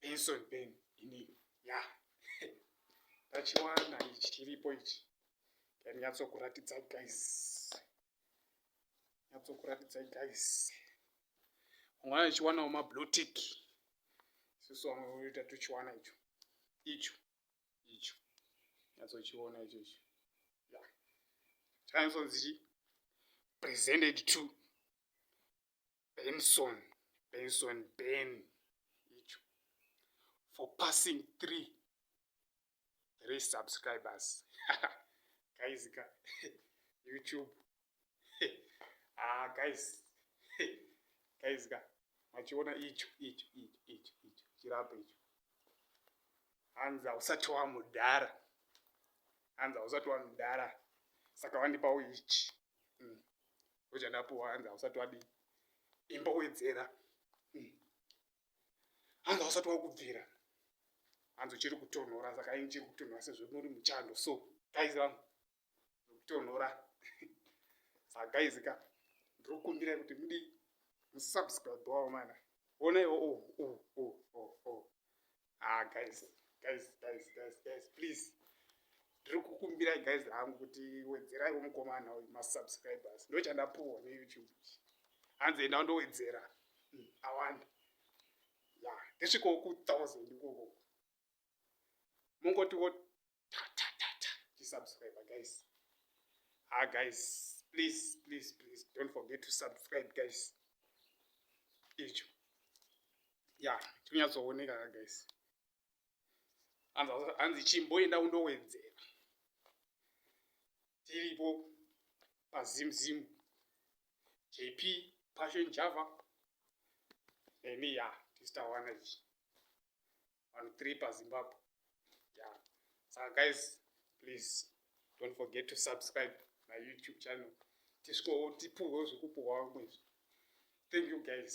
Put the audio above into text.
benson ben ini ya tachiwana ichi chiripo ichi yanyatsokuratidzai guys nyatsokuratidzai guys ungana ichiwanawo mablutik isusu vamwe voita tuchiwana icho icho icho nyatsochiona icho icho ya chanyatsozichi presented to Benson, Benson Ben icho for passing three three subscribers guys ka YouTube ah guys guys ka machiona icho icho icho icho icho chirapa icho hanzi hausati wamudhara hanzi hausati wamudhara saka wandipawo ichi mm. Oja ndapuwa hanzi hausati wadii. Imba wedzera. Mm. Hanzi hausati wakubvira. Hanzi uchiri kutonhora saka ini chiri kutonhora sezvo muri muchando so guys vangu kutonhora. Saka guys ka ndiri kukumbira kuti mudii musubscribe wawo mana. Ona iwo oh oh oh oh oh. ah guys guys guys guys guys please ndiri kukumbirai guys hangu kuti wedzerai womukomana uyu masubscribers ndo chandapuwa neyoutube hanzi enda undowedzera hmm, awanda ya ndisvikowo ku thousand ikoko mongotiwo tisubscribe guys ah guys please please please don't forget to subscribe guys icho ya tinyatsooneka ka guys hanzi chimboenda undowedzera tiripo pazimzim jp passion java nemiya tistawana ichi vanhu three pazimbabwe yeah. saka guys please don't forget to subscribe my youtube channel tisvikowo tipuhwewo zvekupuhwa vamwe izvi thank you guys